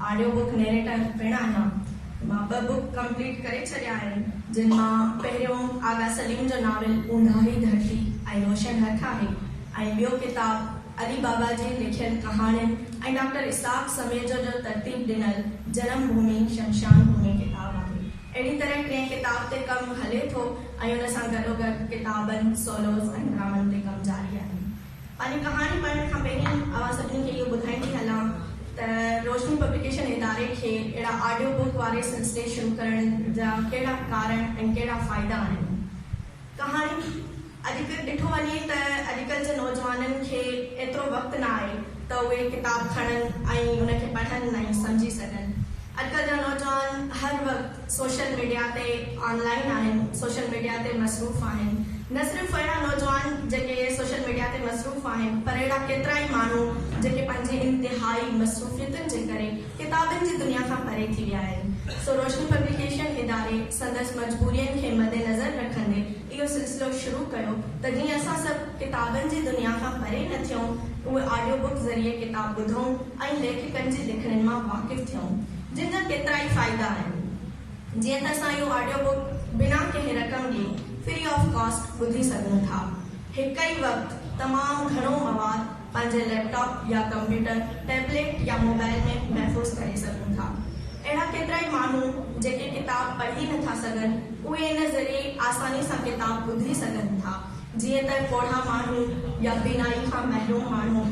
Audio book narrator پڻ آهيان. مان ٻه بوڪ ڪمپليٽ ڪري ڇڏيا آهن جن مان پهريون آغا سليم جو ناول اونڌاهي ڌرتي ۽ روشن هٿ آهي ۽ ٻيو ڪتاب علي بابا جي لکيل ڪهاڻين ۽ ڊاڪٽر اسحاق سميجو جو ترتيب ڏنل جنم ڀومي شمشان ڀومي ڪتاب آهي. اهڙي طرح ٽئين ڪتاب تي ڪم هلي ٿو ۽ ان سان گڏوگڏ ڪتابن، سولوز ۽ ڊرامن تي ڪم جاري آهي. پنهنجي ڪهاڻي پڙهڻ کان پهرين اوهان سڀني کي اهو ٻڌائيندي هلان ته روشني پبليڪيشن اداري کي اهڙا آڊيو بوڪ واري سلسلي شروع ڪرڻ جا ڪهڙا ڪارڻ ۽ ڪهڙا فائدا آهن ڪهاڻي اڄ ڪلهه ڏٺو وڃي ته اڄ ڪلهه جي نوجوانن کي ايترو وقت نه آهي ته اهي ڪتاب کڻن ۽ ان کي پڙهن ۽ سمجهي سگهن اڄ ڪلهه جا نوجوان هر وقت سوشل ميڊيا تي آن لائين آهن، سوشل ميڊيا تي مصروف آهن، نه صرف اهڙا نوجوان جيڪي سوشل ميڊيا تي مصروف آهن پر اهڙا ڪيترائي ماڻهو جيڪي پنهنجي انتهائي مصروفيتن جي ڪري ڪتابن جي دنيا کان پري ٿي ويا آهن سو روشني پبليڪيشن اداري سندس مجبورين کي مدنظر رکندي اهو سلسلو شروع ڪيو ته جيئن اسان سڀ ڪتابن جي دنيا کان پري نه ٿيون، اهي آڊيو بڪ ذريعي ڪتاب ٻڌون ۽ ليکڪن جي لکڻين مان واقف ٿيون، جن جا ڪيترائي فائدا آهن. جيئن ته اسان اهو آڊيو بڪ بنا ڪنهن رقم ڏي، Free of Cost، ٻڌي سگهون ٿا. هڪ ئي وقت تمام گهڻو مواد. پنهنجي ليپ ٽاپ يا ڪمپيوٽر، ٽيبليٽ يا موبائل ۾ محفوظ ڪري سگهون ٿا. اهڙا ڪيترائي ماڻهو جيڪي ڪتاب پڙهي نٿا سگهن، اهي ان ذريعي آساني سان ڪتاب ٻڌي سگهن ٿا، جيئن ته پوڙها ماڻهو يا بينائي کان محروم ماڻهو.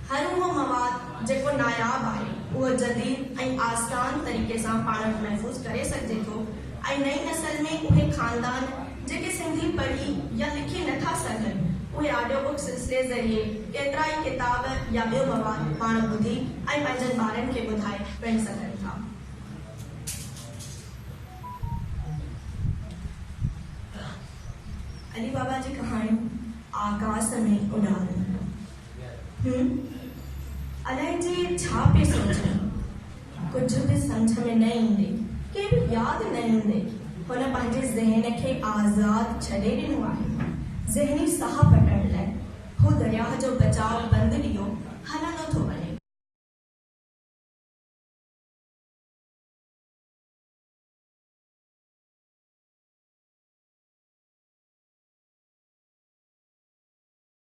هر اهو مواد جيڪو ناياب آهي، اهو جديد ۽ آسان طريقي سان پاڻ وٽ محفوظ ڪري سگهجي ٿو ۽ نئين نسل ۾ اهي خاندان، جيڪي سنڌي پڙهي يا لکي نه ٿا سگهن، اهي آڊيو بڪ سلسلي ذريعي ڪيترا ئي ڪتاب يا ٻيو مواد پاڻ ٻڌي ۽ پنهنجن ٻارن کي ٻڌائي پڻ سگهن ٿا. علي بابا جي ڪهاڻيون آڪاس ۾ اڏامي. هون الائي جي ڇا پئي سوچيان، ڪجهه به سمجهه ۾ نه ايندي، ڪنهن به ياد نه ايندي هن پنهنجي ذهن کي آزاد ڇڏي ڏنو آهي. ذهني ساهه پٽڻ لاء هو درياهه جو بچاء بند ڏيئو هلندو ٿو وڃي.